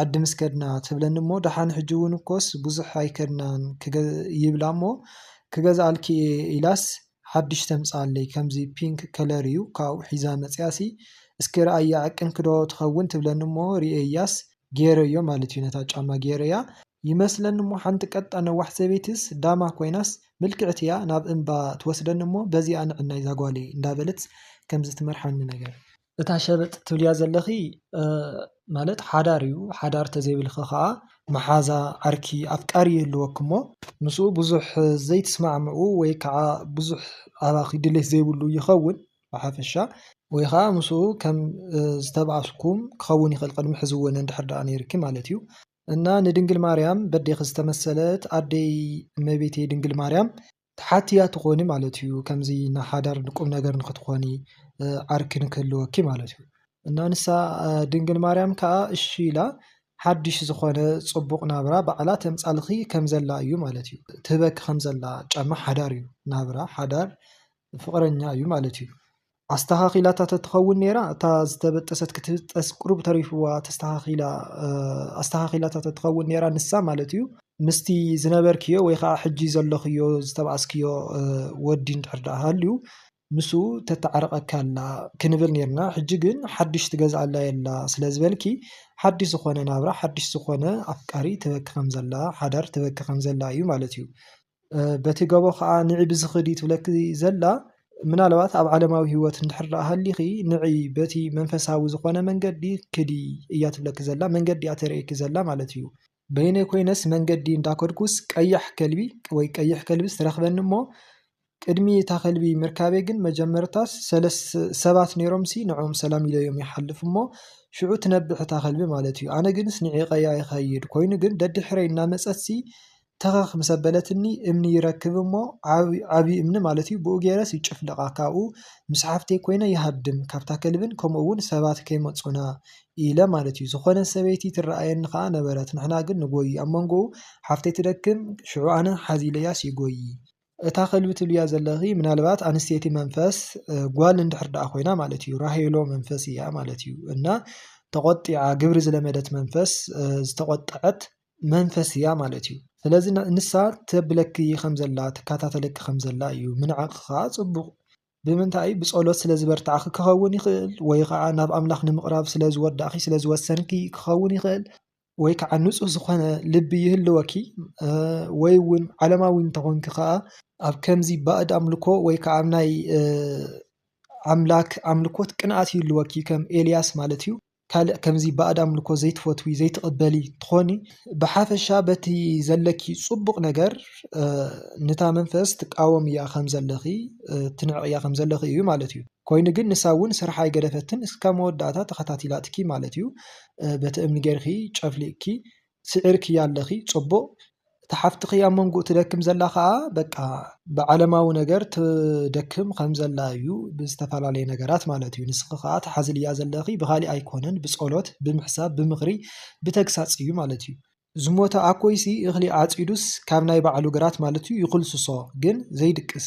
ዓዲ ምስ ከድና ትብለኒ እሞ ደሓን ሕጂ እውን እኮስ ብዙሕ ኣይከድናን ይብላ እሞ ክገዝኣልኪ እየ ኢላስ ሓዱሽ ተምፅኣለይ ከምዚ ፒንክ ከለር እዩ ካብኡ ሒዛ መፂኣሲ እስኪ ርኣያ ዕቅንኪ ዶ ትኸውን ትብለኒ እሞ ሪኤያስ ገይረዮ ማለት እዩ ነታ ጫማ ገይረያ ይመስለኒ እሞ ሓንቲ ቀጣን ነዋሕ ሰበይቲስ ዳማ ኮይናስ ምልክዕቲ እያ ናብ እምባ ትወስደኒ እሞ በዚኣ ንዕናይ ዛጓለይ እንዳበለትስ ከምዚ ትመርሓኒ ነገር። እታ ሸበጥ ትብልያ ዘለኺ ማለት ሓዳር እዩ ሓዳር ተዘይብልኪ ከዓ መሓዛ ዓርኪ ኣፍቃሪ ይህልወኪ እሞ ምስኡ ብዙሕ ዘይትስማዕምዑ ወይ ከዓ ብዙሕ ኣባኺ ድሌት ዘይብሉ ይኸውን ብሓፈሻ ወይ ከዓ ምስኡ ከም ዝተባኣስኩም ክኸውን ይኽእል ቅድሚ ሕዚ እውን እንድሕር ደኣ ነይርኪ ማለት እዩ። እና ንድንግል ማርያም በዴኺ ዝተመሰለት ኣደይ እመቤቴ ድንግል ማርያም ትሓትያ ትኾኒ ማለት እዩ ከምዚ ን ሓዳር ን ቁምነገር ንኽትኾኒ ዓርኪ ንክህልወኪ ማለት እዩ እና ንሳ ድንግል ማርያም ከኣ እሺ ኢላ ሓድሽ ዝኾነ ጽቡቕ ናብራ ባዕላ ተምጻልኺ ከም ዘላ እዩ ማለት እዩ ትህበኪ ከም ዘላ ጫማ ሓዳር እዩ ናብራ ሓዳር ፍቕረኛ እዩ ማለት እዩ። ኣስተኻኺላታ ተትኸውን ነይራ እታ ዝተበጠሰት ክትብጠስ ቁሩብ ተሪፍዋ ተስተኻኺላ ኣስተኻኺላታ ተትኸውን ነይራ ንሳ ማለት እዩ ምስቲ ዝነበርክዮ ወይ ከዓ ሕጂ ዘለኽዮ ዝተባኣስክዮ ወዲ እንድሕር ደኣ ሃልዩ ምስኡ ተተዓርቐኪ ኣላ ክንብል ነይርና ሕጂ ግን ሓድሽ ትገዝኣላ የላ ስለ ዝበልኪ ሓድሽ ዝኾነ ናብራ ሓድሽ ዝኾነ ኣፍቃሪ ትበኪ ከም ዘላ ሓዳር ትበኪ ከም ዘላ እዩ ማለት እዩ በቲ ገቦ ኸኣ ንዒ ብዝኽድ እዩ ትብለኪ ዘላ። ምናልባት ኣብ ዓለማዊ ህይወት እንድሕር ደኣ ሃሊኺ ንዒ በቲ መንፈሳዊ ዝኾነ መንገዲ ክዲ እያ ትብለኪ ዘላ። መንገዲ እያ ተርእየኪ ዘላ ማለት እዩ። በይነይ ኮይነስ መንገዲ እንዳ ከድኩስ ቀያሕ ከልቢ ወይ ቀይሕ ከልብስ ትረኽበኒ እሞ ቅድሚ እታ ከልቢ ምርካበይ ግን መጀመርታስ ሰለስተ ሰባት ነይሮምሲ ንዕኦም ሰላም ኢለዮም ይሓልፍ እሞ ሽዑ ትነብሕ እታ ከልቢ ማለት እዩ። ኣነ ግንስ ንዒቐያ ይኸይድ። ኮይኑ ግን ደድሕረይ እናመጸትሲ ተኸኽ ምስ ኣበለትኒ እምኒ ይረክብ እሞ ዓቢ እምኒ ማለት እዩ ብኡ ጌረስ ይጭፍልቓ ካብኡ ምስ ሓፍተይ ኮይነ ይሃድም ካብታ ከልብን ከምኡ እውን ሰባት ከይመጹና ኢለ ማለት እዩ ዝኾነት ሰበይቲ ትረኣየኒ ከኣ ነበረት ንሕና ግን ንጎዪ ኣብ መንጎኡ ሓፍተይ ትደክም ሽዑ ኣነ ሓዝ ኢለያስ ይጎዪ እታ ከልቢ ትብልያ ዘለኺ ምናልባት ኣንስተይቲ መንፈስ ጓል እንድሕር ደኣ ኮይና ማለት እዩ ራሄሎ መንፈስ እያ ማለት እዩ እና ተቖጢዓ ግብሪ ዝለመደት መንፈስ ዝተቖጠዐት መንፈስ እያ ማለት እዩ። ስለዚ ንሳ ተብለኪ ከም ዘላ ትካታተለኪ ከም ዘላ እዩ ምንዓቅ ከኣ ጽቡቅ ብምንታይ ብጸሎት ስለ ዝበርታዕኪ ክከውን ይክእል ወይ ከኣ ናብ ኣምላክ ንምቅራብ ስለ ዝወዳእኪ ስለ ዝወሰንኪ ክከውን ይክእል ወይ ከኣ ንጹህ ዝኮነ ልቢ ይህልወኪ ወይ ዉን ዓለማዊ ተኮንኪ ከኣ ኣብ ከምዚ ባእድ ኣምልኮ ወይ ከኣ ኣብ ናይ ኣምላክ ኣምልኮት ቅንኣት ይህልወኪ ከም ኤልያስ ማለት እዩ። ካልእ ከምዚ ባእድ ኣምልኮ ዘይትፈትዊ ዘይትቅበሊ ትኾኒ ብሓፈሻ በቲ ዘለኪ ጽቡቅ ነገር ንታ መንፈስ ትቃወምያ ከም ዘለኺ ትንዕቅያ ከም ዘለኺ እዩ ማለት እዩ ኮይኑ ግን ንሳ እውን ስርሓ ኣይገደፈትን እስካብ መወዳእታ ተኸታቲላትኪ ማለት እዩ በቲ እምኒ ጌርኪ ጨፍሊቅኪ ስዒርክያ ኣለኺ ጽቡቅ እታ ሓፍትኺ ኣብ መንጉኡ ትደክም ዘላ ከኣ በቃ ብዓለማዊ ነገር ትደክም ከም ዘላ እዩ ብዝተፈላለየ ነገራት ማለት እዩ ንስኺ ከኣ ትሓዝልያ ዘለኺ ብኻሊእ ኣይኮነን ብጸሎት ብምሕሳብ ብምኽሪ ብተግሳጽ እዩ ማለት እዩ። ዝሞተ ኣኮይሲ እኽሊ ዓጺዱስ ካብ ናይ ባዕሉ ግራት ማለት እዩ ይኹልስሶ ግን ዘይድቅስ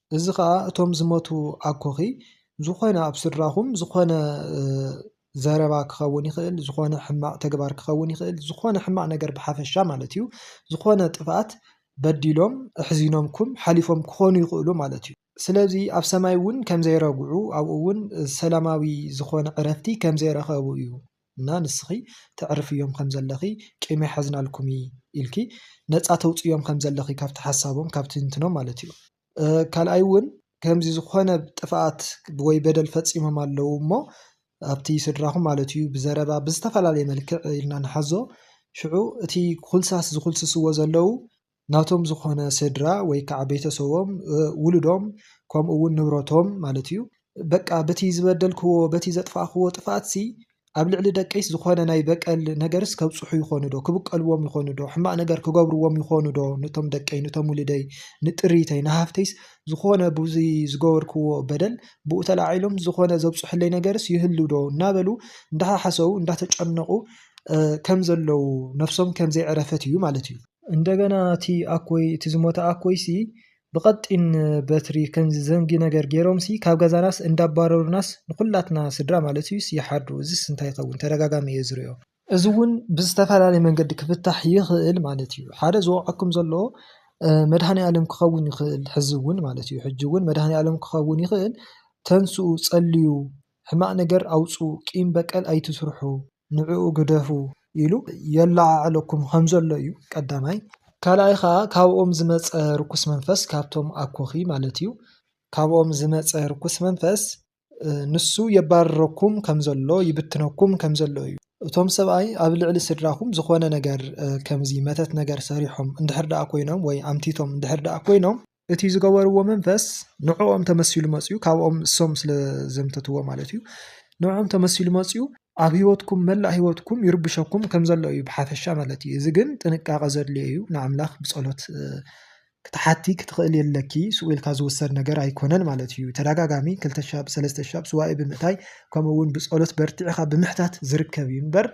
እዚ ኸኣ እቶም ዝሞቱ ኣኮኺ ዝኾነ ኣብ ስድራኹም ዝኾነ ዘረባ ክኸውን ይኽእል፣ ዝኾነ ሕማቕ ተግባር ክኸውን ይኽእል፣ ዝኾነ ሕማቕ ነገር ብሓፈሻ ማለት እዩ፣ ዝኾነ ጥፍኣት በዲሎም ኣሕዚኖምኩም ሓሊፎም ክኾኑ ይኽእሉ ማለት እዩ። ስለዚ ኣብ ሰማይ እውን ከም ዘይረግዑ ኣብኡ እውን ሰላማዊ ዝኾነ ዕረፍቲ ከም ዘይረኸቡ እዩ። እና ንስኺ ተዕርፍዮም ከም ዘለኺ ቂም ኣይሓዝናልኩሚ ኢልኪ ነጻ ተውጽዮም ከም ዘለኺ ካብቲ ሓሳቦም ካብ ትንትኖም ማለት እዩ ካልኣይ እውን ከምዚ ዝኾነ ጥፍኣት ወይ በደል ፈጺሞም ኣለዉ እሞ ኣብቲ ስድራኹም ማለት እዩ ብዘረባ ብዝተፈላለየ መልክዕ ኢልና ንሓዞ ሽዑ እቲ ኩልሳስ ዝኹልስስዎ ዘለዉ ናቶም ዝኾነ ስድራ ወይ ከዓ ቤተሰቦም ውሉዶም ከምኡ እውን ንብረቶም ማለት እዩ በቃ በቲ ዝበደልክዎ በቲ ዘጥፋእክዎ ጥፍኣትሲ ኣብ ልዕሊ ደቀይስ ዝኾነ ናይ በቀል ነገርስ ከብፅሑ ይኾኑ ዶ ክብቀልዎም ይኾኑ ዶ ሕማቅ ነገር ክገብርዎም ይኾኑ ዶ ንቶም ደቀይ ንቶም ውልደይ ንጥሪተይ ንሃፍተይስ ዝኾነ ብዙይ ዝገበርክዎ በደል ብኡ ተላዒሎም ዝኾነ ዘብፅሑለይ ነገርስ ይህሉ ዶ እናበሉ እንዳሓሓሰቡ እንዳተጨነቁ ከም ዘለው ነብሶም ከም ዘይዕረፈት እዩ ማለት እዩ። እንደገና እቲ ኣኮይ እቲ ዝሞተ ኣኮይሲ ብቐጢን በትሪ ከምዚ ዘንጊ ነገር ገይሮምሲ ካብ ገዛናስ እንዳባረሩናስ ንኹላትና ስድራ ማለትዩስ ይሓድሩ እዚስ እንታይ ይኸውን ተደጋጋሚ እየ ዝሪኦ። እዚውን ብዝተፈላለየ መንገዲ ክፍታሕ ይኽእል ማለት እዩ ሓደ ዝወቕዐኩም ዘሎ መድሃኒኣለም ክኸውን ይኽእል ሕዚ እውን ማለት እዩ ሕጂ እውን መድሃኒኣለም ክኸውን ይኽእል ተንስኡ ጸልዩ ሕማቕ ነገር ኣውጽኡ ቂም በቀል ኣይትስርሑ ንዕኡ ግደፉ ኢሉ የለዓዕለኩም ከምዘሎ እዩ ቀዳማይ። ካልኣይ ከኣ ካብኦም ዝመጸ ርኩስ መንፈስ ካብቶም ኣኮኺ ማለት እዩ ካብኦም ዝመጸ ርኩስ መንፈስ ንሱ የባርረኩም ከምዘሎ ይብትነኩም ከምዘሎ እዩ። እቶም ሰብኣይ ኣብ ልዕሊ ስድራኹም ዝኾነ ነገር ከምዚ መተት ነገር ሰሪሖም እንድሕር ደኣ ኮይኖም ወይ ኣምቲቶም እንድሕር ደኣ ኮይኖም፣ እቲ ዝገበርዎ መንፈስ ንዕኦም ተመሲሉ መፅዩ ካብኦም እሶም ስለ ዘምተትዎ ማለት እዩ ንዕኦም ተመሲሉ መፅዩ ኣብ ህይወትኩም መላእ ህይወትኩም ይርብሸኩም ከም ዘሎ እዩ ብሓፈሻ ማለት እዩ እዚ ግን ጥንቃቐ ዘድልዮ እዩ ንኣምላኽ ብጸሎት ክትሓቲ ክትኽእል የለኪ ስኡ ኢልካ ዝውሰድ ነገር ኣይኮነን ማለት እዩ ተደጋጋሚ ክልተ ሻብ ሰለስተ ሻብ ስዋኢ ብምእታይ ከምኡ እውን ብጸሎት በርቲዕኻ ብምሕታት ዝርከብ እዩ እምበር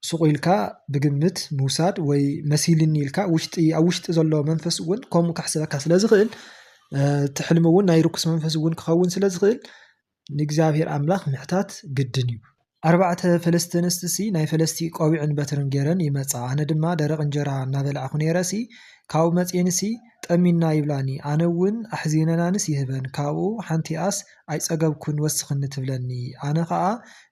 ሱቕ ኢልካ ብግምት ምውሳድ ወይ መሲልኒ ኢልካ ውሽጢ ኣብ ውሽጢ ዘሎ መንፈስ እውን ከምኡ ከሕስበካ ስለ ዝኽእል እቲ ሕልሚ እውን ናይ ርኩስ መንፈስ እውን ክኸውን ስለ ዝኽእል ንእግዚኣብሔር ኣምላኽ ምሕታት ግድን እዩ ኣርባዕተ ፈለስቲ ኣንስትሲ ናይ ፈለስቲ ቆቢዕን በትርን ገይረን ይመጻ ኣነ ድማ ደረቕ እንጀራ እናበላዕኹ ነይረሲ ካብኡ መጺኤንሲ ጠሚና ይብላኒ ኣነ እውን ኣሕዚነናንስ ይህበን ካብኡ ሓንቲኣስ ኣይጸገብኩን ወስኽኒ ትብለኒ ኣነ ከኣ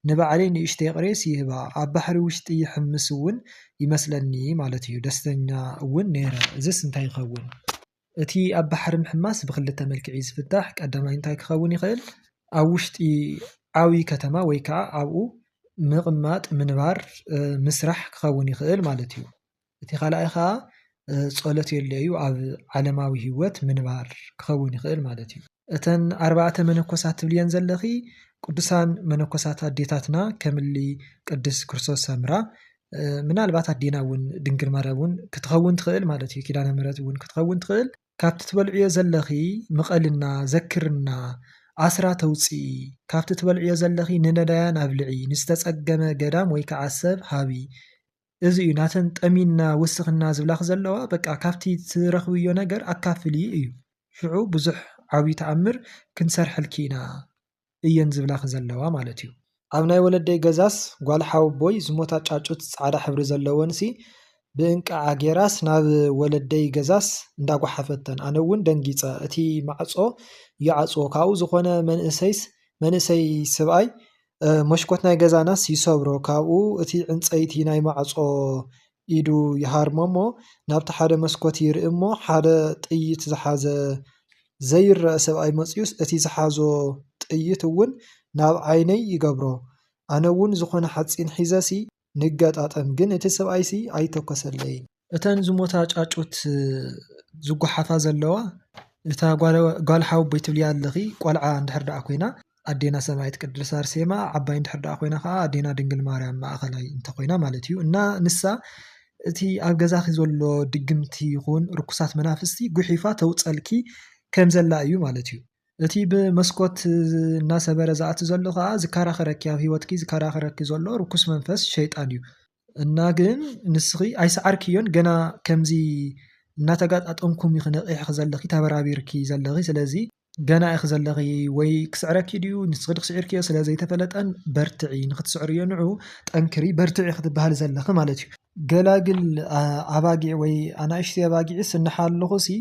ንባዕለይ ንእሽተይ ቕሬስ ይህባ ኣብ ባሕሪ ውሽጢ ይሕምስ ውን ይመስለኒ ማለት እዩ ደስተኛ ውን ነይረ እዝስ እንታይ ይኸውን እቲ ኣብ ባሕሪ ምሕማስ ብኽልተ መልክዕ እዩ ዝፍታሕ ቀዳማይ እንታይ ክኸውን ይኽእል ኣብ ውሽጢ ዓውይ ከተማ ወይ ከኣ ኣብኡ ምቕማጥ ምንባር ምስራሕ ክኸውን ይኽእል ማለት እዩ። እቲ ካልኣይ ከዓ ጸሎት የድልዮ'ዩ ኣብ ዓለማዊ ሂወት ምንባር ክኸውን ይኽእል ማለት እዩ። እተን ኣርባዕተ መነኮሳት ትብልየን ዘለኺ ቅዱሳን መነኮሳት ኣዴታትና ከምሊ ቅድስ ክርስቶስ ሰምራ ምናልባት ኣዴና እውን ድንግል ማርያም እውን ክትኸውን ትኽእል ማለት እዩ ኪዳነ ምሕረት እውን ክትኸውን ትኽእል ካብቲ ትበልዕዮ ዘለኺ ምቐልና ዘክርና ኣስራ ተውፅኢ ካብቲ ትበልዕዮ ዘለኺ ንነዳያን ኣብልዒ ንዝተፀገመ ገዳም ወይ ከዓ ሰብ ሃቢ እዚ እዩ ናተን ጠሚና ውስኽና ዝብላኺ ዘለዋ በቃ ካብቲ ትረኽብዮ ነገር ኣካፍሊ እዩ ሽዑ ብዙሕ ዓብዩ ተኣምር ክንሰርሐልኪ ኢና እየን ዝብላኺ ዘለዋ ማለት እዩ። ኣብ ናይ ወለደይ ገዛስ ጓል ሓወቦይ ዝሞታ ጫጩት ፃዕዳ ሕብሪ ዘለወንሲ ብእንቅዓ ጌራስ ናብ ወለደይ ገዛስ እንዳጓሓፈተን ኣነ እውን ደንጊፀ እቲ ማዕፆ ይዓፅዎ ካብኡ ዝኾነ መንእሰይስ መንእሰይ ስብኣይ መሽኮት ናይ ገዛናስ ይሰብሮ ካብኡ እቲ ዕንጸይቲ ናይ ማዕጾ ኢዱ ይሃርሞ እሞ ናብቲ ሓደ መስኮት ይርኢ እሞ ሓደ ጥይት ዝሓዘ ዘይረኣ ሰብኣይ መጺኡስ እቲ ዝሓዞ ጥይት እውን ናብ ዓይነይ ይገብሮ ኣነ እውን ዝኾነ ሓጺን ሒዘሲ ንገጣጠም ግን እቲ ሰብኣይሲ ኣይተኮሰለይን። እተን ዝሞታ ጫጩት ዝጓሓፋ ዘለዋ እታ ጓል ሓወቦይ ትብልያ ኣለኺ ቆልዓ እንድሕር ደኣ ኮይና ኣዴና ሰማኢት ቅድስት ኣርሴማ ዓባይ እንድሕር ደኣ ኮይና ከኣ ኣዴና ድንግል ማርያም ማእኸላይ እንተኾይና ማለት እዩ እና ንሳ እቲ ኣብ ገዛኺ ዘሎ ድግምቲ ይኹን ርኩሳት መናፍስቲ ጉሒፋ ተውፀልኪ ከምዘላ እዩ ማለት እዩ። እቲ ብመስኮት እናሰበረ ዝኣቲ ዘሎ ከኣ ዝከራኸረኪ ኣብ ህይወትኪ ዝከራኸረኪ ዘሎ ርኩስ መንፈስ ሸይጣን እዩ። እና ግን ንስኺ ኣይሰዓርክዮን ገና ከምዚ እናተጋጣጠምኩም ኢኺ ነቂሕኺ ዘለኺ ተበራቢርኪ ዘለኺ ስለዚ ገና ኢኺ ዘለኺ ወይ ክስዕረኪ ድዩ ንስኺ ዶ ስዒርክዮ ስለ ዘይተፈለጠን በርትዒ ንኽትስዕርዮ ንዑ ጠንክሪ በርትዒ ክትበሃሊ ዘለኺ ማለት እዩ። ገላግል ኣባጊዕ ወይ ኣናእሽቲ ኣባጊዕስ እንሓለኹ ሲ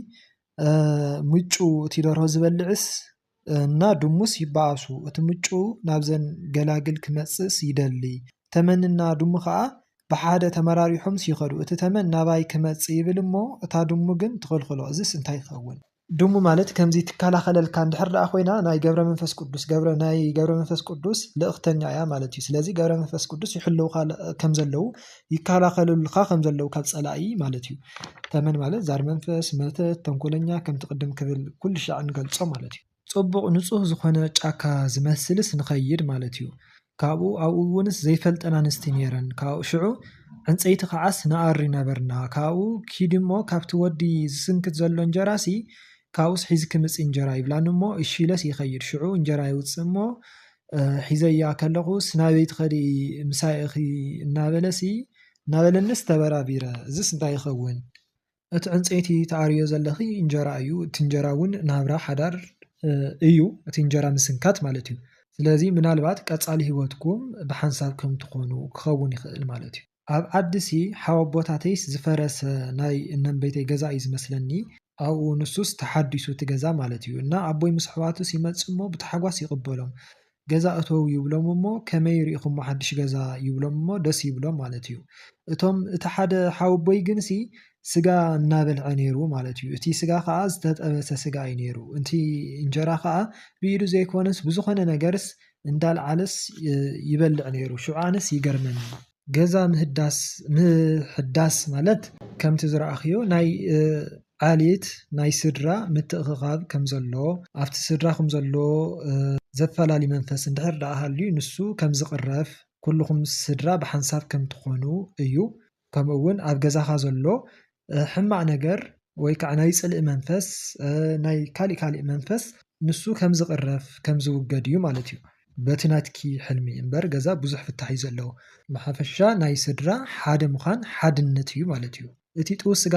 ምጩ እቲ ደርሆ ዝበልዕስ እና ድሙስ ይበኣሱ እቲ ምጩ ናብዘን ገላግል ክመጽእስ ይደሊ ተመን እና ድሙ ከኣ ብሓደ ተመራሪሖምስ ይኸዱ እቲ ተመን ናባይ ክመጽእ ይብል እሞ እታ ድሙ ግን ትኽልኽሎ እዝስ እንታይ ይኸውን። ድሙ ማለት ከምዚ ትከላኸለልካ እንድሕር ደኣ ኮይና ናይ ገብረመንፈስ ቅዱስ ገብረ ናይ ገብረመንፈስ ቅዱስ ልእኽተኛ እያ ማለት እዩ ስለዚ ገብረመንፈስ ቅዱስ ይሕልውኻ ከምዘለው ይከላኸሉልኻ ከምዘለው ካብ ጸላኢ ማለት እዩ። ተመን ማለት ዛር መንፈስ መተት ተንኮለኛ ከምቲ ቅድም ክብል ኩሉ ሻዕ ንገልጾ ማለት እዩ። ጽቡቕ ንጹህ ዝኾነ ጫካ ዝመስልስ ንኸይድ ማለት እዩ ካብኡ ኣብኡ እውንስ ዘይፈልጠን ኣንስቲ ኔረን ካብኡ ሽዑ ዕንጸይቲ ከዓስ ንኣሪ ነበርና ካብኡ ኪዲ እሞ ካብቲ ወዲ ዝስንክት ዘሎ እንጀራሲ ካብኡስ ሒዝኪ ምጺ እንጀራ ይብላኒ እሞ እሺ ኢለስ ይኸይድ ሽዑ እንጀራ የውጽእ እሞ ሒዘያ ከለኹስ ናበይ ትኸዲ ምሳይ እኺ እናበለሲ እናበለኒስ ተበራቢረ፣ እዝስ እንታይ ይኸውን? እቲ ዕንጸይቲ ትኣርይዮ ዘለኺ እንጀራ እዩ፣ እቲ እንጀራ'ውን ናብራ ሓዳር እዩ፣ እቲ እንጀራ ምስንካት ማለት እዩ። ስለዚ ምናልባት ቀጻሊ ህይወትኩም ብሓንሳብ ከም ትኾኑ ክኸውን ይኽእል ማለት እዩ። ኣብ ዓዲ'ሲ ሓወቦታተይስ ዝፈረሰ ናይ እነንበይተይ ገዛ እዩ ዝመስለኒ፣ ኣብኡ ንሱስ ተሓዲሱ እቲ ገዛ ማለት እዩ እና ኣቦይ ምስ ኣሕዋቱስ ይመጽእ እሞ ብታሕጓስ ይቕበሎም ገዛ እተዉ ይብሎም እሞ ከመይ ርኢኹሞ ሓድሽ ገዛ ይብሎም እሞ ደስ ይብሎም ማለት እዩ እቶም እቲ ሓደ ሓወቦይ ግንሲ ስጋ እናበልዐ ነይሩ ማለት እዩ እቲ ስጋ ከኣ ዝተጠበሰ ስጋ እዩ ነይሩ እንቲ እንጀራ ከኣ ብኢዱ ዘይኮነስ ብዝኾነ ነገርስ እንዳልዓለስ ይበልዕ ነይሩ ሽዑ ኣነስ ይገርመኒ ገዛ ምህዳስ ምህዳስ ማለት ከምቲ ዝረኣኽዮ ናይ ዓሌት ናይ ስድራ ምትእኽኻብ ከም ዘሎ ኣብቲ ስድራ ኹም ዘሎ ዘፈላሊ መንፈስ እንድሕር ደኣ ሃልዩ ንሱ ከም ዝቕረፍ ኩሉኹም ስድራ ብሓንሳብ ከም ትኾኑ እዩ። ከምኡውን ኣብ ገዛኻ ዘሎ ሕማቅ ነገር ወይ ከዓ ናይ ፅልኢ መንፈስ ናይ ካሊእ ካሊእ መንፈስ ንሱ ከም ዝቅረፍ ከም ዝውገድ እዩ ማለት እዩ። በቲ ናትኪ ሕልሚ እምበር ገዛ ብዙሕ ፍታሕ እዩ ዘለዎ። ብሓፈሻ ናይ ስድራ ሓደ ምዃን ሓድነት እዩ ማለት እዩ። እቲ ጥውስ ስጋ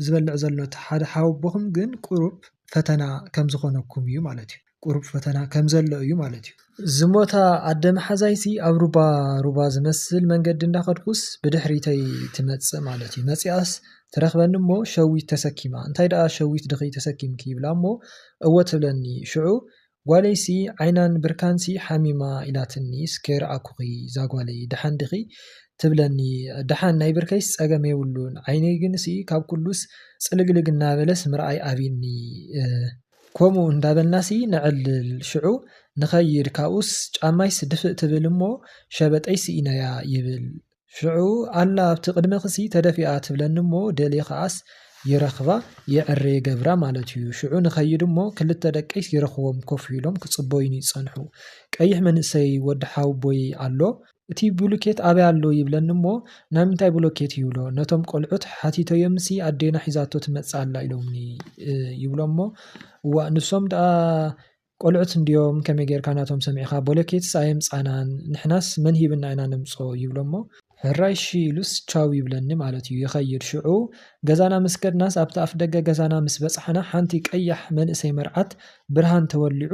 ዝበልዕ ዘሎ እቲ ሓደ ሓወቦኹም ግን ቁሩብ ፈተና ከም ዝኾነኩም እዩ ማለት እዩ። ቁሩብ ፈተና ከም ዘሎ እዩ ማለት እዩ። ዝሞታ ኣደ መሓዛይሲ ኣብ ሩባ ሩባ ዝመስል መንገዲ እንዳኸድኩስ ብድሕሪተይ ትመጽእ ማለት እዩ። መጺኣስ ትረኽበኒ እሞ ሸዊት ተሰኪማ እንታይ ደኣ ሸዊት ድኺ ተሰኪምኪ ይብላ እሞ እወ ትብለኒ ሽዑ ጓለይሲ ዓይናን ብርካንሲ ሓሚማ ኢላትኒ ስ ከይረኣኩኺ ዛጓለይ ደሓን ዲኺ ትብለኒ ደሓን ናይ ብርከይስ ጸገም የብሉን ዓይነይ ግንሲ ካብ ኩሉስ ጽልግልግ እናበለስ ምርኣይ ኣቢኒ ከምኡ እንዳበልናሲ ነዕልል፣ ሽዑ ንኸይድ ካብኡስ ጫማይስ ድፍእ ትብል እሞ ሸበጠይ ስኢነያ ይብል፣ ሽዑ ኣላ ኣብቲ ቅድመኺሲ ተደፊኣ ትብለኒ እሞ ደልየ ከኣስ ይረኽባ የዕሬ ይገብራ ማለት እዩ፣ ሽዑ ንኸይድ እሞ ክልተ ደቀይስ ይረኽቦም ኮፍ ኢሎም ክጽበዩኒ ይጸንሑ፣ ቀይሕ መንእሰይ ወዲ ሓውቦይ ኣሎ፣ እቲ ብሉኬት ኣበይ ኣሎ ይብለኒ እሞ ናይ ምንታይ ብሎኬት ይብሎ ነቶም ቆልዑት ሓቲተዮምሲ ኣዴና ሒዛቶ ትመጽእ ኣላ ኢሎምኒ ይብሎሞ እዋእ ንሶም ደኣ ቆልዑት እንድዮም ከመይ ጌርካ ናቶም ሰሚዕካ ቦሎኬትስ ኣየምጻእናን ንሕናስ መን ሂብና ኢና ነምጾ ይብሎሞ ሕራይ እሺ ኢሉስ ቻው ይብለኒ ማለት እዩ ይኸይድ ሽዑ ገዛና ምስ ከድናስ ኣብቲ ኣፍደገ ገዛና ምስ በጻሕና ሓንቲ ቀያሕ መንእሰይ መርዓት ብርሃን ተወሊዑ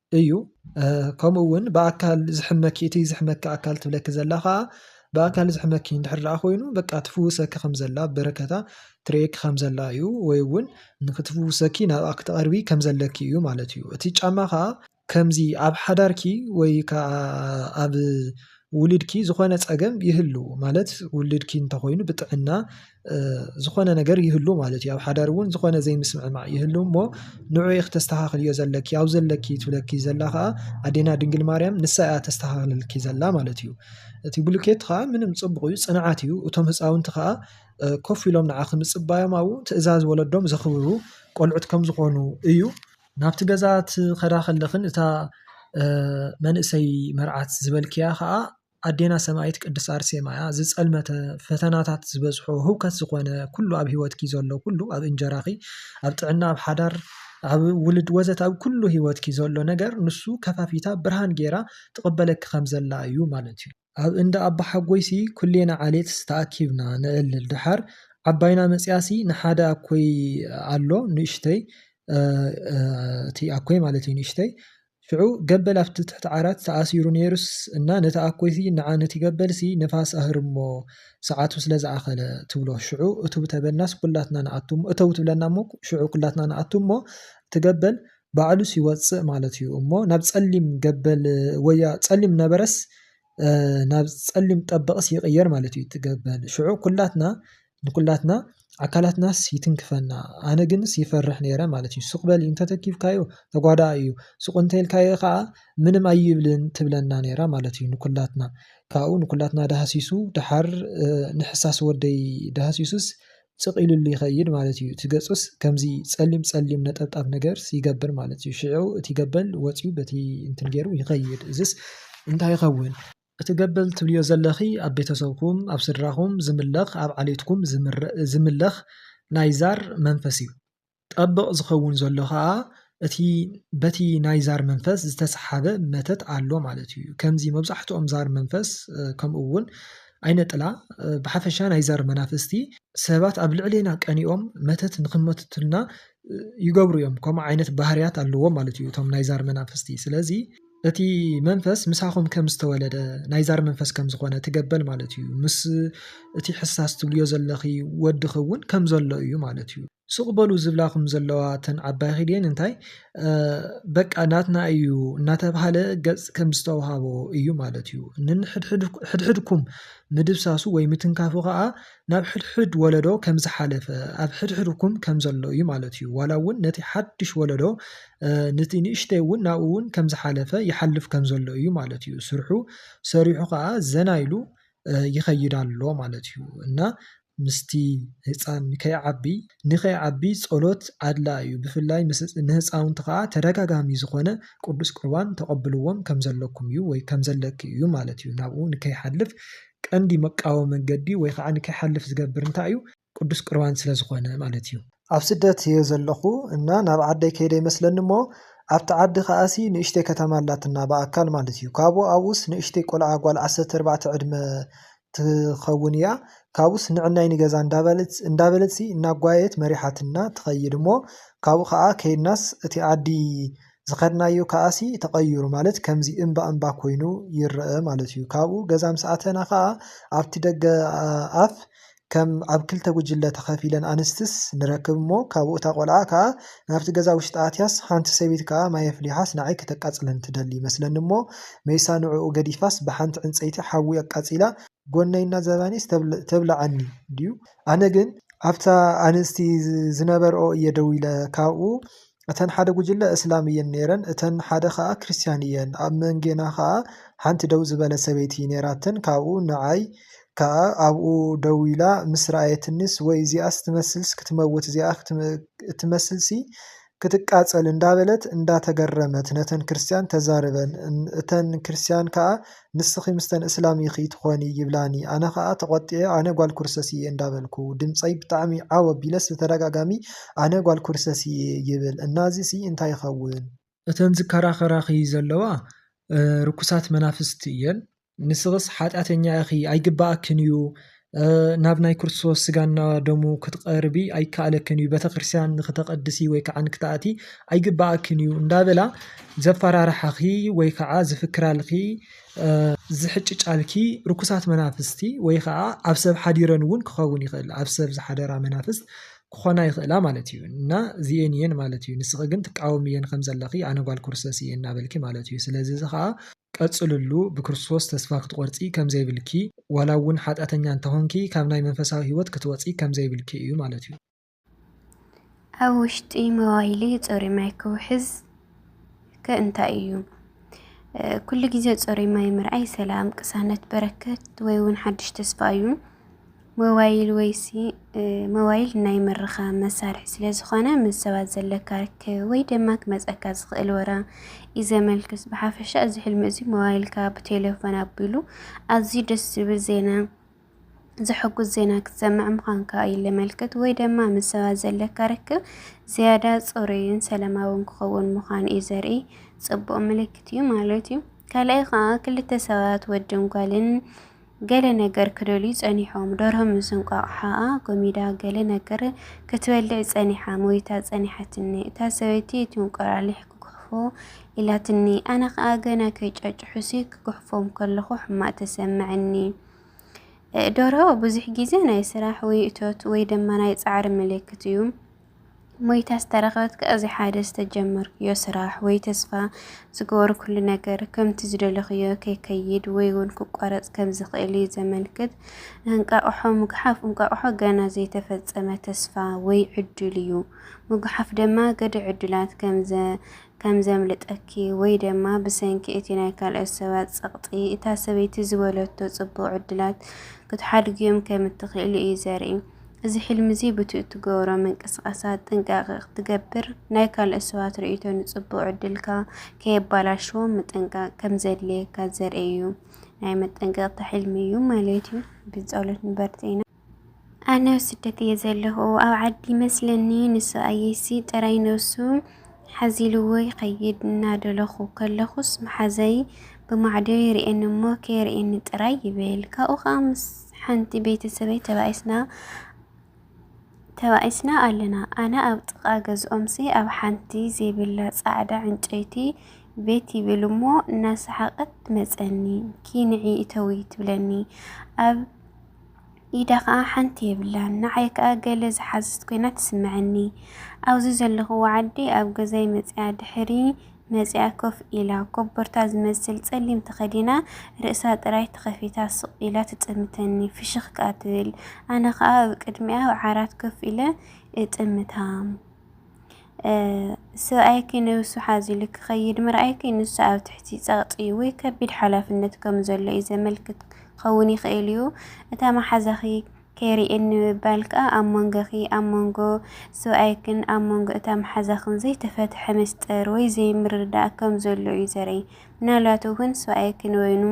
እዩ ከምኡ እውን ብኣካል ዝሕመኪ እቲ ዝሕመኪ ኣካል ትብለኪ ዘላ ኸኣ ብኣካል ዝሕመኪ እንድሕር ደኣ ኮይኑ በቃ ትፍውሰኪ ከም ዘላ በረከታ ትርእየኪ ከም ዘላ እዩ ወይ እውን ንኽትፍውሰኪ ናብኣ ክትቐርቢ ከም ዘለኪ እዩ ማለት እዩ እቲ ጫማ ኸኣ ከምዚ ኣብ ሓዳርኪ ወይ ከኣ ኣብ ውልድኪ ዝኾነ ጸገም ይህሉ ማለት ውልድኪ እንተኾይኑ ብጥዕና ዝኾነ ነገር ይህሉ ማለት እዩ ኣብ ሓዳር እውን ዝኾነ ዘይምስምዕማዕ ይህሉ እሞ ንዑ ክተስተኻኽልዮ ዘለኪ ኣብ ዘለኪ ትብለኪ ዘላ ኸዓ ኣዴና ድንግል ማርያም ንሳ እያ ተስተኻኽለልኪ ዘላ ማለት እዩ። እቲ ብሉኬት ኸዓ ምንም ጽቡቕ እዩ ጽንዓት እዩ እቶም ህፃውንቲ ኸዓ ኮፍ ኢሎም ንዓኺ ምጽባዮም ኣዉ ትእዛዝ ወለዶም ዘኽብሩ ቆልዑት ከም ዝኾኑ እዩ። ናብቲ ገዛ ትኸዳ ከለኽን እታ መንእሰይ መርዓት ዝበልክያ ከዓ ኣዴና ሰማይት ቅድስት ኣርሴማ እያ ዝፀልመተ ፈተናታት ዝበዝሖ ህውከት ዝኾነ ኩሉ ኣብ ሂወትኪ ዘሎ ኩሉ ኣብ እንጀራኺ ኣብ ጥዕና ኣብ ሓዳር ኣብ ውሉድ ወዘተ ኣብ ኩሉ ሂወትኪ ዘሎ ነገር ንሱ ከፋፊታ ብርሃን ጌራ ትቕበለኪ ከም ዘላ እዩ ማለት እዩ። ኣብ እንዳ ኣባሓጎይሲ ኩሌና ዓሌትስ ተኣኪብና ነዕልል ደሓር ዓባይና መጺኣሲ ንሓደ ኣኮይ ኣሎ ንእሽተይ እቲ ኣኮይ ማለት እዩ ንእሽተይ ሽዑ ገበል ኣብቲ ትሕቲ ዓራት ተኣሲሩ ነይሩስ እና ነቲ ኣኮይሲ ንዓ ነቲ ገበልሲ ንፋስ ኣህርሞ ሰዓቱ ስለ ዝኣኸለ ትብሎ ሽዑ እቱብ ተበልናስ ኩላትና ንኣቱ እሞ እተው ትብለና እሞ ሽዑ ኩላትና ንኣቱ እሞ እቲ ገበል ባዕሉስ ይወጽእ ማለት እዩ እሞ ናብ ጸሊም ገበል ወያ ጸሊም ነበረስ ናብ ጸሊም ጠበቕስ ይቕየር ማለት እዩ ትገበል ሽዑ ኩላትና ንኩላትና ኣካላትናስ ይትንክፈና ኣነ ግንስ ይፈርሕ ነይረ ማለት እዩ ሱቕበል እንተተኪፍካዮ ተጓዳኣ እዩ ሱቕ እንተልካዮ ከዓ ምንም ኣይብልን ትብለና ነይራ ማለት እዩ ንኩላትና ካብኡ ንኩላትና ዳሃሲሱ ደሓር ንሕሳስ ወደይ ዳሃሲሱስ ጽቅ ኢሉሉ ይከይድ ማለት እዩ እቲ ገጹስ ከምዚ ጸሊም ጸሊም ነጠብጣብ ነገርስ ይገብር ማለት እዩ ሽዑ እቲ ገበል ወጽዩ በቲ እንትን ጌሩ ይከይድ እዝስ እንታይ ይከውን እቲ ገበል ትብልዮ ዘለኪ ኣብ ቤተሰብኩም ኣብ ስድራኩም ዝምለክ ኣብ ዓሌትኩም ዝምለክ ናይ ዛር መንፈስ እዩ። ጠበቕ ዝኸውን ዘሎ ከኣ እቲ በቲ ናይ ዛር መንፈስ ዝተሰሓበ መተት ኣሎ ማለት እዩ ከምዚ መብዛሕትኦም ዛር መንፈስ ከምኡ እውን ኣይነ ጥላ ብሓፈሻ ናይ ዛር መናፍስቲ ሰባት ኣብ ልዕሌና ቀኒኦም መተት ንክመትቱልና ይገብሩ እዮም ከምኡ ዓይነት ባህርያት ኣለዎም ማለት እዩ እቶም ናይ ዛር መናፍስቲ ስለዚ እቲ መንፈስ ምሳኹም ከም ዝተወለደ ናይ ዛር መንፈስ ከም ዝኾነ ትገበል ማለት እዩ ምስ እቲ ሕሳስ ትብልዮ ዘለኺ ወድኺ እውን ከም ዘሎ እዩ ማለት እዩ ሱቅ በሉ ዝብላኹም ዘለዋ እተን ዓባይኺ ድየን እንታይ በቃ ናትና እዩ እናተብሃለ ገጽ ከም ዝተውሃቦ እዩ ማለት እዩ። ንሕድሕድኩም ምድብሳሱ ወይ ምትንካፉ ከኣ ናብ ሕድሕድ ወለዶ ከም ዝሓለፈ ኣብ ሕድሕድኩም ከም ዘሎ እዩ ማለት እዩ። ዋላ እውን ነቲ ሓድሽ ወለዶ ነቲ ንእሽተይ እውን ናብኡ እውን ከም ዝሓለፈ ይሓልፍ ከም ዘሎ እዩ ማለት እዩ። ስርሑ ሰሪሑ ከኣ ዘና ኢሉ ይኸይድ ኣሎ ማለት እዩ። እና ምስቲ ህጻን ንከይዓቢ ንከይዓቢ ጸሎት ኣድላ እዩ ብፍላይ ምስ ንህጻውንቲ ከኣ ተደጋጋሚ ዝኾነ ቅዱስ ቁርባን ተቀብልዎም ከምዘለኩም እዩ ወይ ከምዘለኪ እዩ ማለት እዩ ናብኡ ንከይሓልፍ ቀንዲ መቃወ መንገዲ ወይ ከኣ ንከይሓልፍ ዝገብር እንታይ እዩ ቅዱስ ቁርባን ስለ ዝኾነ ማለት እዩ። ኣብ ስደት እየ ዘለኹ እና ናብ ዓደይ ከይደ ይመስለኒ እሞ ኣብቲ ዓዲ ከኣሲ ንእሽተይ ከተማ ኣላትና ብኣካል ማለት እዩ ካብኡ ኣብኡስ ንእሽተይ ቆልዓ ጓል ዓሰርተ ኣርባዕተ ዕድመ ትኸውን እያ ካብኡስ ንዕናይ ንገዛ እንዳበለት እንዳበለትሲ እናጓየየት መሪሓትና ትኸይድ እሞ ካብኡ ከኣ ከይድናስ እቲ ዓዲ ዝኸድናዮ ከኣሲ ተቐይሩ ማለት ከምዚ እምባ እምባ ኮይኑ ይረኣ ማለት እዩ ካብኡ ገዛ ምስ ኣተና ከኣ ኣብቲ ደገ ኣፍ ከም ኣብ ክልተ ጉጅለ ተኸፊለን ኣንስትስ ንረክብ እሞ ካብኡ እታ ቆልዓ ከኣ ናብቲ ገዛ ውሽጢ ኣትያስ ሓንቲ ሰበይቲ ከኣ ማይ ኣፍሊሓስ ንዓይ ከተቃጽለኒ ትደሊ ይመስለኒ እሞ መይሳ ንዕኡ ገዲፋስ ብሓንቲ ዕንጸይቲ ሓዊ ኣቃጺላ ጎነይ እናዘባኔስ ተብልዓኒ ድዩ ኣነ ግን ኣብታ ኣንስቲ ዝነበርኦ እየ ደው ኢለ ካብኡ እተን ሓደ ጉጅለ እስላም እየን ነይረን እተን ሓደ ከኣ ክርስትያን እየን ኣብ መንጌና ከኣ ሓንቲ ደው ዝበለት ሰበይቲ ነይራተን ካብኡ ንዓይ ከኣ ኣብኡ ደው ኢላ ምስ ረኣየትኒስ ወይ እዚኣስ ትመስልስ ክትመውት እዚኣ እትመስልሲ ክትቃጸል እንዳበለት እንዳተገረመት ነተን ክርስትያን ተዛርበን እተን ክርስትያን ከኣ ንስኺ ምስተን እስላም ኢኺ ትኾኒ ይብላኒ ኣነ ከኣ ተቆጢዐ ኣነ ጓል ኩርሰስ እየ እንዳበልኩ ድምጸይ ብጣዕሚ ዓው ኣቢለስ ብተደጋጋሚ ኣነ ጓል ኩርሰስ እየ ይብል እና እዚሲ እንታይ ይኸውን እተን ዝከራኸራኺ ዘለዋ ርኩሳት መናፍስቲ እየን ንስኽስ ሓጢኣተኛ ኢኺ ኣይግባኣክን እዩ ናብ ናይ ክርስቶስ ስጋና ደሙ ክትቐርቢ ኣይከኣለክን እዩ ቤተክርስትያን ንክተቐድሲ ወይ ከዓ ንክትኣቲ ኣይግባኣክን እዩ እንዳበላ ዘፈራርሓኺ ወይ ከዓ ዝፍክራልኺ ዝሕጭጫልኪ ርኩሳት መናፍስቲ ወይ ከዓ ኣብ ሰብ ሓዲረን እውን ክኸውን ይኽእል ኣብ ሰብ ዝሓደራ መናፍስት ክኾና ይኽእላ ማለት እዩ እና እዚኤን እየን ማለት እዩ ንስኺ ግን ትቃወም እየን ከም ዘለኺ ኣነ ጓል ክርስቶስ እየ እናበልኪ ማለት እዩ ስለዚ እዚ ከዓ ቀፅልሉ ብክርስቶስ ተስፋ ክትቆርፂ ከምዘይብልኪ ዋላ እውን ሓጢኣተኛ እንተኾንኪ ካብ ናይ መንፈሳዊ ህይወት ክትወፂ ከምዘይብልኪ እዩ ማለት እዩ። ኣብ ውሽጢ መዋይሊ ፅሩይ ማይ ክውሕዝ። ከ እንታይ እዩ? ኩሉ ግዜ ፅሩይ ማይ ምርኣይ ሰላም፣ ቅሳነት፣ በረከት ወይ እውን ሓዱሽ ተስፋ እዩ። ሞባይል ወይሲ ሞባይል ናይ ምርኻብ መሳርሒ ስለ ዝኾነ ምስ ሰባት ዘለካ ርክብ ወይ ድማ ክመፀካ ዝኽእል ወረ እዩ ዘመልክት። ብሓፈሻ እዚ ሕልሚ እዚ ሞባይልካ ብቴሌፎን ኣቢሉ ኣዝዩ ደስ ዝብል ዜና ዘሐጉስ ዜና ክትሰምዕ ምዃንካ እዩ ለመልክት ወይ ደማ ምስ ሰባት ዘለካ ርክብ ዝያዳ ጽሩይን ሰላማውን ክኸውን ምዃን እዩ ዘርኢ ጽቡቕ ምልክት እዩ ማለት እዩ። ካልኣይ ከዓ ክልተ ሰባት ወድን ጓልን ገለ ነገር ክደልዩ ጸኒሖም ደርሆ ምስ እንቋቑሖኣ ጎሚዳ ገለ ነገር ክትበልዕ ጸኒሓ ሞይታ ጸኒሓትኒ እታ ሰበይቲ እቲ እንቁላሊሕ ክጉሕፎ ኢላትኒ ኣነ ከዓ ገና ከይጫጭሑሲ ክጉሕፎም ከለኹ ሕማቅ ተሰምዐኒ። ደርሆ ብዙሕ ግዜ ናይ ስራሕ ወይ እቶት ወይ ድማ ናይ ጻዕሪ ምልክት እዩ። ሞይታ ዝተረኸበት ከኣ እዚ ሓደ ዝተጀመርክዮ ስራሕ ወይ ተስፋ ዝገበርኩሉ ነገር ከምቲ ዝደለኽዮ ከይከይድ ወይ እውን ክቋረጽ ከም ዝኽእል እዩ ዘመልክት። እንቃቕሖ ምጉሓፍ እንቃቕሖ ገና ዘይተፈጸመ ተስፋ ወይ ዕድል እዩ። ምጉሓፍ ድማ ገደ ዕድላት ከም ከም ዘምልጠኪ ወይ ደማ ብሰንኪ እቲ ናይ ካልኦት ሰባት ጸቕጢ እታ ሰበይቲ ዝበለቶ ጽቡቕ ዕድላት ክትሓድግዮም ከም እትኽእሊ እዩ ዘርኢ። እዚ ሕልሚ እዚ ብቲ እትገብሮ ምንቅስቓሳት ጥንቃቐ ክትገብር፣ ናይ ካልኦት ሰባት ርእይቶ ንጽቡቕ ዕድልካ ከየባላሽዎ ምጥንቃቕ ከም ዘድልየካ ዘርኢ እዩ። ናይ መጠንቀቕታ ሕልሚ እዩ ማለት እዩ። ብጸሎት ንበርትዒና። ኣነ ኣብ ስደት እየ ዘለኹ ኣብ ዓዲ ይመስለኒ ንሱ ኣየሲ ጥራይ ነሱ ሓዚልዎ ይኸይድ እናደለኹ ከለኹስ መሓዘይ ብማዕዶ ይርእየኒ እሞ ከየርእየኒ ጥራይ ይብል ካብኡ ከዓ ምስ ሓንቲ ቤተሰበይ ተባኢስና ተባኢስና ኣለና ኣነ ኣብ ጥቓ ገዝኦምሲ ኣብ ሓንቲ ዘይብላ ፃዕዳ ዕንጨይቲ ቤት ይብል እሞ እናሰሓቐት ትመፀኒ ኪንዒ እተዊ ትብለኒ ኣብ ኢዳ ከኣ ሓንቲ የብላን። ንዓይ ከኣ ገለ ዝሓዘት ኮይና ትስመዐኒ። ኣብዚ ዘለኹዎ ዓዲ ኣብ ገዛይ መጺኣ ድሕሪ መጺኣ ኮፍ ኢላ፣ ኮቦርታ ዝመስል ጸሊም ተኸዲና ርእሳ ጥራይ ተኸፊታ ስቕ ኢላ ትጥምተኒ። ፍሽኽ ከኣ ትብል። ኣነ ከኣ ኣብ ቅድሚኣ ኣብ ዓራት ኮፍ ኢለ እጥምታ። ሰብኣይኪ ነብሱ ሓዚሉ ክኸይድ ምርኣይኪ ንሱ ኣብ ትሕቲ ጸቕጢ ወይ ከቢድ ሓላፍነት ከም ዘሎ እዩ ዘመልክት ክኸውን ይኽእል እዩ። እታ መሓዛኺ ከይርእየኒ ምባል ከኣ ኣብ መንጎኺ ኣብ መንጎ ሰብኣይክን ኣብ መንጎ እታ መሓዛኽን ዘይተፈትሐ ምስጢር ወይ ዘይምርድዳእ ከም ዘሎ እዩ ዘርኢ። ምናልባት እውን ሰብኣይኪ ንበይኑ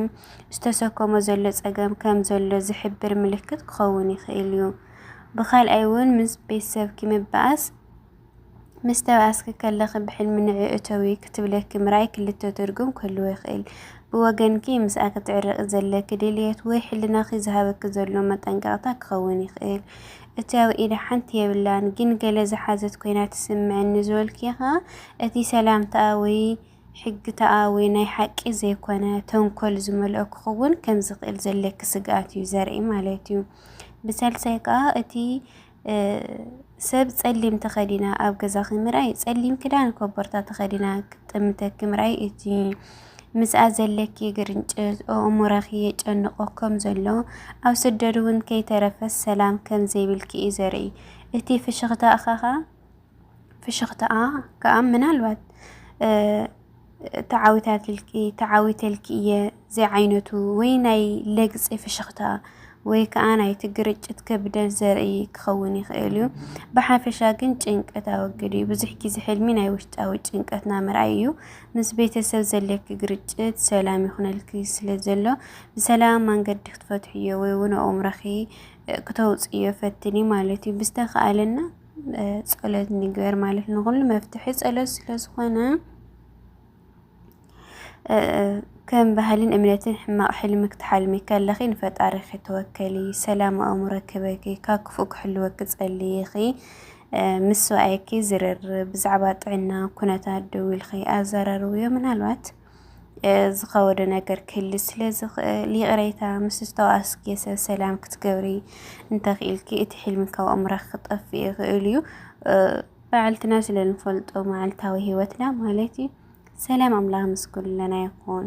ዝተሰከሞ ዘሎ ጸገም ከም ዘሎ ዝሕብር ምልክት ክኸውን ይኽእል እዩ። ብኻልኣይ እውን ምስ ቤተሰብኪ ምባኣስ ምስ ተባኣስኪ ከለኺ ብሕልሚ ንዒ እተዊ ክትብለኪ ምርኣይ ክልተ ትርጉም ክህልዎ ይኽእል። ብወገንኪ ምስኣ ክትዕረቂ ዘለኪ ድልየት ወይ ሕልናኺ ዝሃበኪ ዘሎ መጠንቀቕታ ክኸውን ይኽእል። እቲ ኣብ ኢዳ ሓንቲ የብላን ግን ገለ ዝሓዘት ኮይና ትስምዐኒ ዝበልኪ ኸኣ እቲ ሰላምታኣ ወይ ሕግታኣዊ ናይ ሓቂ ዘይኮነ ተንኮል ዝመልኦ ክኽውን ከምዝኽእል ዘለኪ ስግኣት እዩ ዘርኢ ማለት እዩ። ብሳልሳይ ከዓ እቲ ሰብ ጸሊም ተኸዲና ኣብ ገዛኺ ምርኣይ ጸሊም ክዳን ኮቦርታ ተኸዲና ክትጥምተኪ ምርኣይ እቲ ምስኣ ዘለኪ ግርንጭት ኣእምሮኺ የጨንቆ ከም ዘሎ ኣብ ስደት እውን ከይተረፈ ሰላም ከም ዘይብልኪ እዩ ዘርኢ እቲ ፍሽኽታ እኻኻ ፍሽኽታኣ ከኣ ምናልባት ተዓዊታትልኪ ተዓዊተልኪ እየ ዘይዓይነቱ ወይ ናይ ለግፂ ፍሽኽታ ወይ ከዓ ናይቲ ግርጭት ክብደት ዘርኢ ክኸውን ይኽእል እዩ። ብሓፈሻ ግን ጭንቀት ኣወግድ እዩ። ብዙሕ ግዜ ሕልሚ ናይ ውሽጣዊ ጭንቀትና ምርኣይ እዩ። ምስ ቤተሰብ ዘለኪ ግርጭት ሰላም ይኹነልኪ ስለ ዘሎ ብሰላም መንገዲ ክትፈትሕዮ ወይ እውን ኣእምሮኺ ክተውፅዮ ፈትኒ ማለት እዩ ብዝተኻእለና ጸሎት ንግበር ማለት ንኹሉ መፍትሒ ጸሎት ስለ ዝኾነ ከም ባህልን እምነትን ሕማቕ ሕልሚ ክትሓልሚ ከለኺ ንፈጣሪኺ ተወከሊ፣ ሰላም ኣእምሮ ክበኪ፣ ካብ ክፉእ ክሕልወኪ ጸልይኺ፣ ምስ ሰብኣይኪ ዝርርብ፣ ብዛዕባ ጥዕና ኩነታት ደዊልኺ ኣዘራርብዮ ምናልባት ዝኸወደ ነገር ክህሊ ስለ ዝኽእል ይቕሬታ ምስ ዝተዋእስኪ ሰብ ሰላም ክትገብሪ እንተኽኢልኪ እቲ ሕልሚ ካብ ኣእምሮኺ ክጠፍእ ይኽእል እዩ። በዓልትና ስለ ንፈልጦ መዓልታዊ ህይወትና ማለት እዩ። ሰላም ኣምላኽ ምስ ኩልና ይኹን።